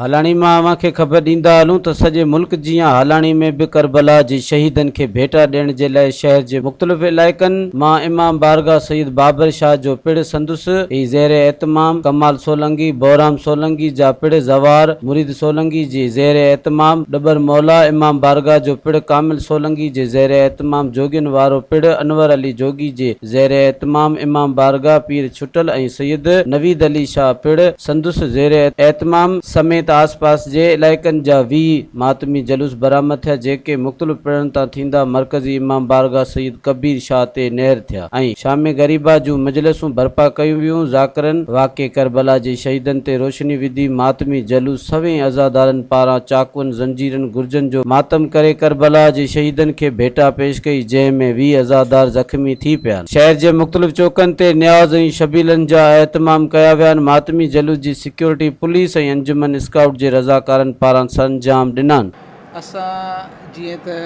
هالاڻي مان اوهان کي خبر ڏيندا هلون ته سڄي ملڪ جيان هالاڻي ۾ به ڪربلا جي شهيدن کي ڀيٽا ڏيڻ جي لاء شهر جي مختلف علائقن مان امام بارگاهه سيد بابر شاهه جو پڙ سندس ئي زير اهتمام ڪمال سولنگي، بهرام سولنگي جا پڙ زوار مريد، سولنگي جي زير اهتمام ڏٻر مولا امام بارگاهه جو پڙ ڪامل سولنگي جي زير اهتمام جوڳين وارو پڙ انور علي جوڳي جي زير اهتمام امام بارگاهه پير ڇٽل ۽ سيد نويد علي شاهه پڙ سندس زير اهتمام سميت آس پاس جي علائقن جا ويهه ماتمي جلوس برآمد ٿيا جيڪي مختلف پڙن تان ٿيندا مرڪزي امام بارگاهه سيد ڪبير شاهه تي نهر ٿيا. ۽ شام غريبا جون مجلسون برپا ڪيون ويون، ذاڪرن واقعي ڪربلا جي شهيدن تي روشني وڌي، ماتمي جلوس سوين عزادارن پاران چاقون، زنجيرن، گرجن جو ماتم ڪري ڪربلا جي شهيدن کي ڀيٽا پيش ڪئي، جنهن ۾ ويهه عزادار زخمي ٿي پيا آهن. شهر جي مختلف چوڪن تي نياز ۽ شبيلن جا اهتمام ڪيا ويا آهن، ماتمي جلوس جي سيڪيورٽي پوليس ۽ انجمن اسڪائوٽ جي رضاڪارن پاران سرانجام ڏنان. اسان جيئن ته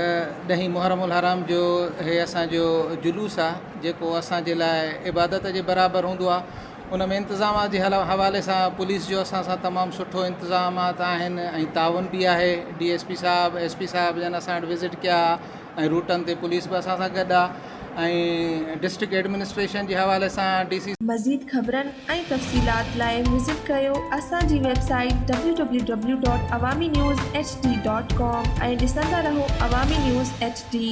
ڏهين محرم الحرام جو هي اسان جو جلوس آ جيڪو اسان جي لاء عبادت جي برابر هوندو آ ان ۾ انتظامات جي حوالي سان پوليس جو اسان سان تمام سٺو انتظامات آهن ۽ تعاون بي آهي ڊي ايس پي صاحب ايس پي صاحب جن اسان وٽ وزٽ ڪيا ۽ روٽن تي پوليس به اسان سان گڏ آ ۽ ڊسٽرڪٽ ايڊمنسٽريشن جي حوالي سان ڊي سي. مزيد خبرن ۽ تفصيلات لاء وزٽ ڪيو اسان جي website W W W dot Awami news H D dot com ۽ ڏسندا رهو عوامي نيوز ايڇ ڊي.